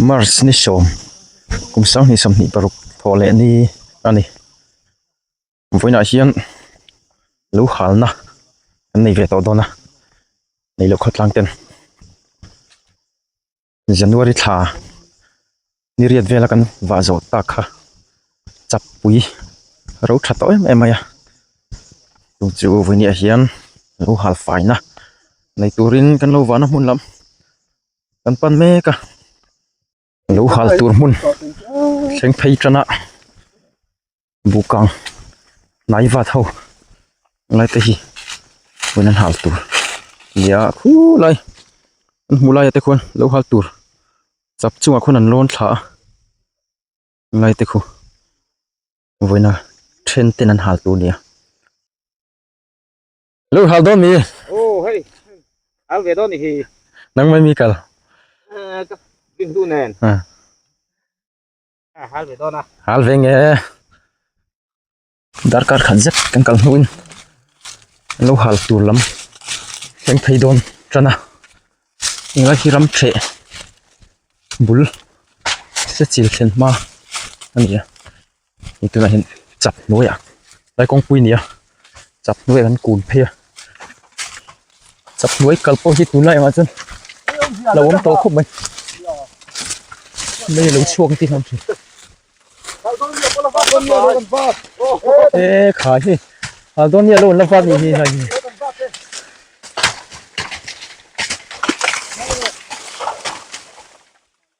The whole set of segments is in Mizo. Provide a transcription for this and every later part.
March ni sawm kum sanghnih sawmhnih paruk thawh leh ni a ni. Vawiinah hian lo halna an nei ve tawh dawn a, nei loh khawtlang ten January thla ni riat vela kan vah zawh tak kha chapui ro tha tawh em em mai a, chu chu vawiinah hian lo hal faina nei turin kan lo vahna hmun lam. kan pan mek a lo hal tur hmun thleng phei tana buh kang hnai vat ho lai te hi pawn an hal tur a ni a khu lai kan hmuh lai ah te khawn lo hal tur chap chungah khawn an lawn thla a ngai te khu vawiina then ten an hal tur a ni a. Lu hal don ni. Oh hey. Al ve don ni hi. Nang mai mi kal. Bin du nen. À. À, hal ve don à. Hal ve nge. Dar kar khan zet kan kal hnu in. Lu hal tur lam. Ken thei don chana. Inga hi ram che. Bul. Se chil chen ma. Ania. hemi tunah hian chak hnuaiah lai kawngpui a ni a chak hnuaiah kan kun phei a chak hnuai kal pawh hi tunlai angah chuan a lo awm tawh khawp mai mei a lo chhuak ang tih hram thin he khai hi Aldonia lo awmna vat ni ngei hi.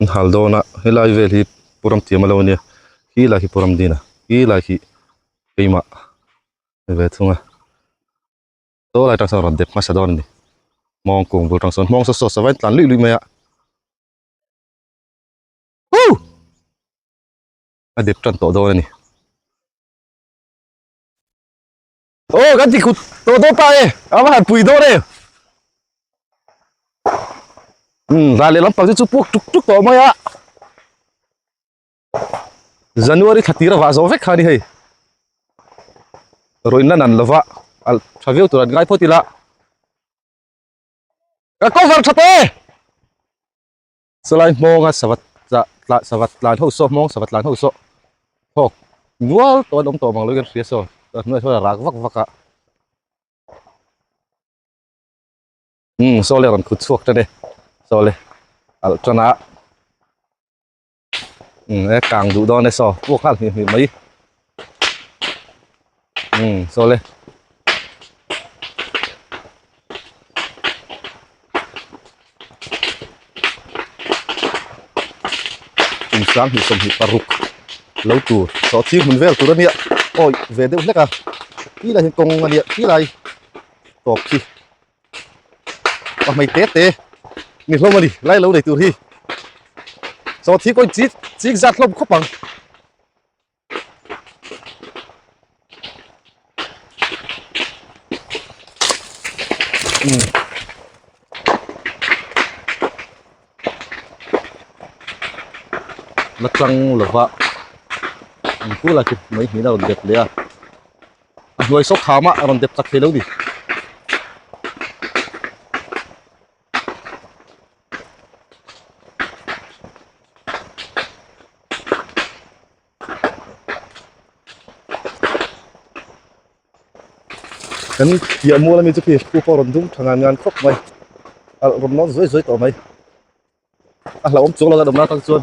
an hal dawn a helai vel hi pu ramthiam a lo a nia khi lai hi pu ramdina khi lai hi keimah ni ve thung a saw lai atang sawn rawn dep hmasa dawn a ni mawng kung bul atang sawn mawng saw sauce a va in tlan luih luih mai a hu a dep tan tawh dawn a ni. Aw kan ti kut tawh tawh ta e a va han pui dawn e um zan leh lampang te chu puak tuk tuk tawh mai a January thla tira vah zawh vek kha ni hei rawn la nan lova a tha viau tur an ngai phawt ila ka cover tha tawh e Salai hmawnga savat tla tla savat tlan ho saw hmawng savat tlan ho saw thawk nual tawh an awm tawh mang lo kan hria saw a hnuai saw a rak vak vak a um saw le rawn khut chhuak tan e saw le alh tan a um e kang duh dawn e saw puak nghal hnih hnih mai Umm sawle. Inchang hnih sawmhnih paruk lo tur tawh chhing hmun vel tur ania awi ve deuh hlek a ti laiah hian kawng ania ti lai tawp khi ka hmai te te ni hlawm ani lai lo nei tur hi saw thi kawi chik chik zat hlawm khawp ang. la tlang lova an hu la tih mai hmel a rawn dep leh a a hnuai sawk khama a rawn dep tak theilo a ni. kan piah mual ami chu khi pu pawh rawn dum thang ngan khawp mai a rawn nawr zuai zuai tawh mai a hlauhawm chuang lo deuh a awmna atang chuan.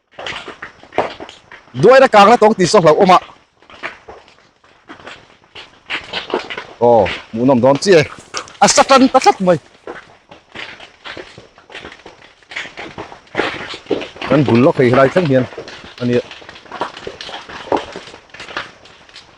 Duaira kangna tawng ti sawk hlauh awmah. Aw, hmuh nawm dawn chiah e. A sa tan ta tlat mai. Kan bul lawk thei helai thleng hian a nia.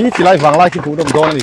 Hi tilai vang lai khi hmuh dawm dawn a ni.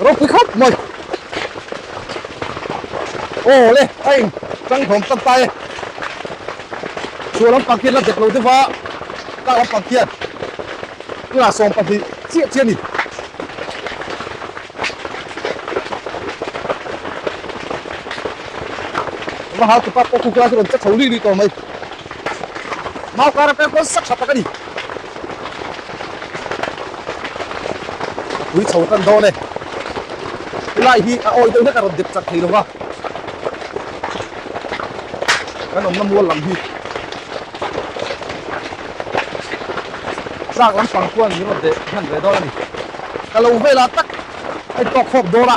Rau pui khawp mai. Oh le, ai chang thawm tak ta e. Chu lam pang khian la dek lo te va. Ka lam pang khian. Tuna sawm pahnih chiah chiah ni. Mahau tu pa pawh kuk lai chu rawn che tho li li tawh mai. Mau kara pek dawn sak tha tak a ni. Apui chho tan dawn e. Tulai hi a awi deuh hlek a rawn dep chak thei lo va. Kan awmna mual lam hi. Zak lampang khuan min rawn deh hman ve dawn a ni. Ka lo vela tak hei tawk hawk dawra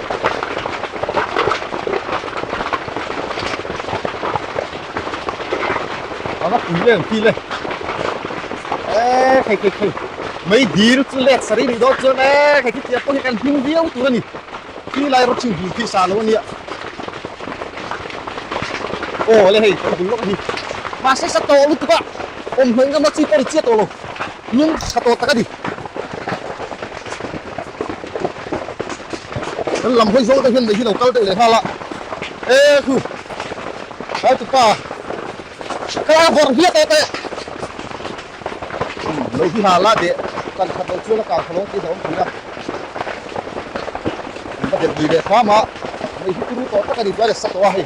Leng pile. Eh, kai kai kai. Mai dir chu lek sari ni dot chuan eh kai ti apo hi kan hing viau tur ani. Ki lai ro chin dul thi sa lo ania. Oh, le hei, kan dul lok hi. Ma se sa to lu tuka. Om hmai ngam la chi pori chia to lo. Lung sa to tak ani. kan lam hawi zawng te hian mei hi lo kal deuh leh nghal a e khu ai tu pa ka la vawr hliah ta te lo hi ha la de kan khat lo chuan a kang khalawng tih zawm thin a ba der gi le khama mei hi turu tawh tak a ni chuan e sa tawh a hei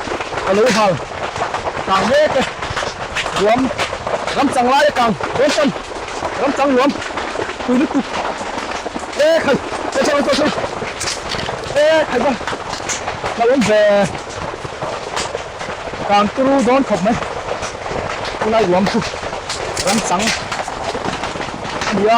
ka lo hal tlang mek e, nuam ram chang lai atang dawn chuan ram chang nuam pui lutuk e khai pawh chhang pawh chhang e khai chuan hlauhawm ve tlang turu dawn khawp mai tunlai nuam chu ram chang a nia.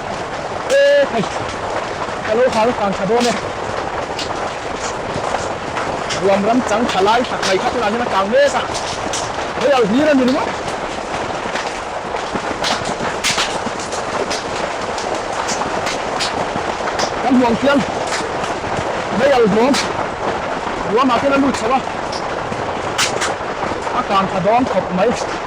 E hei ka lo hau fang tha dawn e. Ruam ram chang tha lai tak mai kha tunah hian a tlang mek a. Hei au hlir a ni ringawt. Kan hmuang fial hei au hlawm ruam ah khian a lut chho a. A tlang tha dawn khawp mai.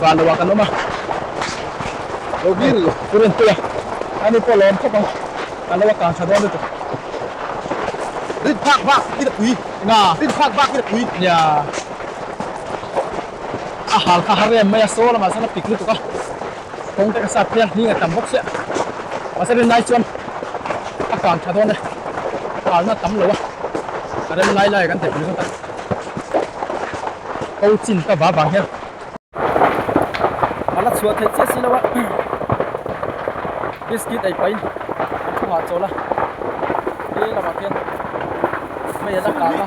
van lo ah kan awm a lo bil tur in puia ani pawh lawm khawp ang kan lo a kang tha dawn lutuk rit phak bak i ta pui nga rit phak bak i ta pui nia a hal kha ha rem mai a saw lamah sawn a pik lutuk a Kawng te ka sat hian hling a tam bawk chiah. Mahse rem lai chuan a kang tha dawn e. Kalna a tam lo a, ka rem lai lai a kan ti pui zawk a. Ko chin ka va vang hian a la chhuah theih chiah si lo a. Biscuit ei pahin a thu nghah chawl a. He lamah khian Hmeiha la kang a.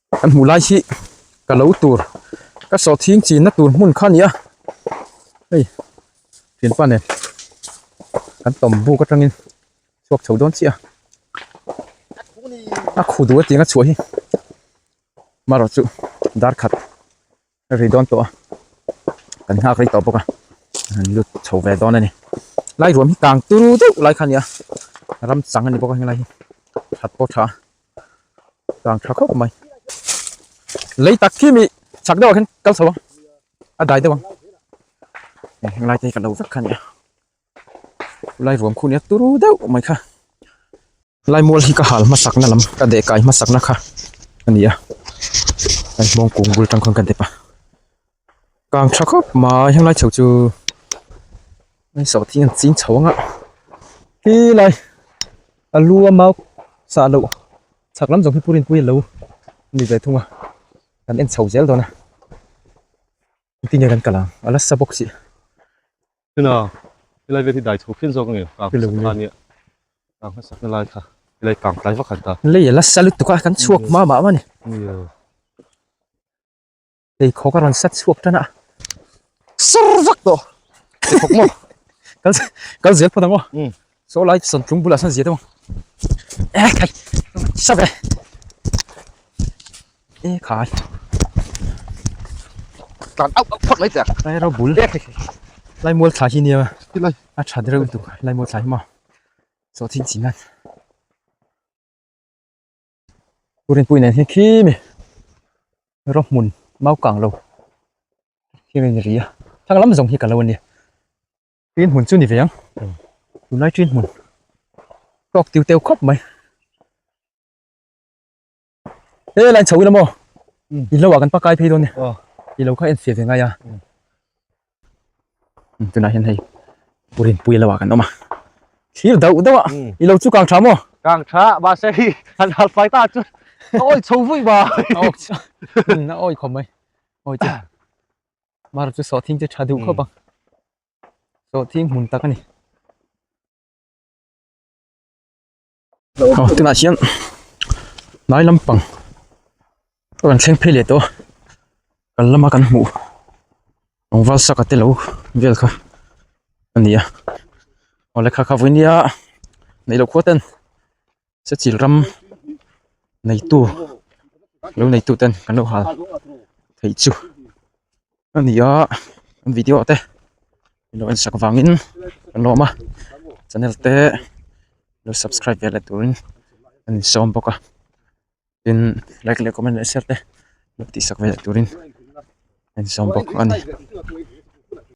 Kan hmuh lai hi ka lo tur ka sawh thing chin na tur hmun kha a ni a, hei fianpa nen kan tawm buk atang in chhuak chho dawn chiah a, a khuh duh aṭang a chhuah hi marawh chu darkhat. Ri dawn tawh a, kan nghak ri tawh bawk a, han lut chho ve dawn a ni. Lai ruam hi tang turu deuh lai kha a ni a, ram chang a ni bawk a helai hi, that pawh tha a, tang tha khawp mai. Lei tak khi mi chak deuhah khan kal chho a, a dai deuh ang, heng lai te hi ka lo vek kha a ni a. lai vawm khu nia turu deuh mai kha laimul hi ka hal hmasakna lam ka deh kai hmasakna kha a ni a kan hmawng kung bul atang khan ka dep a kang tha khawp mai heng lai chho chu mai sawh thin an ching chho ang a khi lai a lu a mau sa lo chak lam zawng hi purin pui lo ni ve thung a kan en chho zel dawn a ti nge kan kalang a la sa bawk si Tuna, helai vel hi dai chho fian zawk a ni, kang hmasak kha ania, kang hmasakna lai kha helai kang tlai vak han ta. Lei a la sa lutuk a, kan chhuak hma mah mah a ni. Lei khawk a rawn sa chhuak tan a, sar vak tawh! Lei khawk maw? Kal zel phawt ang aw. Saw lai sawn tlung bulah sawn zia deuh a. Eh khai. Saw ve. Eh khai. Tan au au phak lai tak. Lai ro bul. Eh khai. Lai mual tha hi nia. Ti lai. A tha deuh tu. Lai mual tha hi ma. Saw thin chin nan. Purin pui nen hi khi mi. Ro mun mau kang lo. Khi mi ria. Thang lam zong hi ka lo nia. Tin hmun chu ni ve ang. Tunlai tin hmun. Tlawk tiu teu khawp mai. He line chho ila mo. Hmm. I lo a kan pakai phei don ni. Oh. I lo kha en fe ve ngai a. Hmm. Hmm, Tunah hian hei purin pui lo a kan awm a. Thir deuh deuh a. Hmm. I lo chu kang tha mo. Kang tha ba se hi han hal fai ta chu. Oi chho vui ba. Oi. Na oi khom mai. Oi. Mar chu sawh thing chu tha duh khawp a. Sawh thing hmun tak a ni. Tunah hian hnai lampang pawh kan thleng phei leh tawh a. Kan lama kan hmuh rawngval saka te lo vel kha a ni a. Aw lehkha kha vawin nia neih loh khua ten. sechil ram neitu lo neitu ten kan lo hal thei chu a ni a an video te lo en sak vangin kan lo awm a channel te lo subscribe ve let turin an insawm bawk a tin like leh comment leh share te lo tihsak ve let turin a insawm bawk a ni.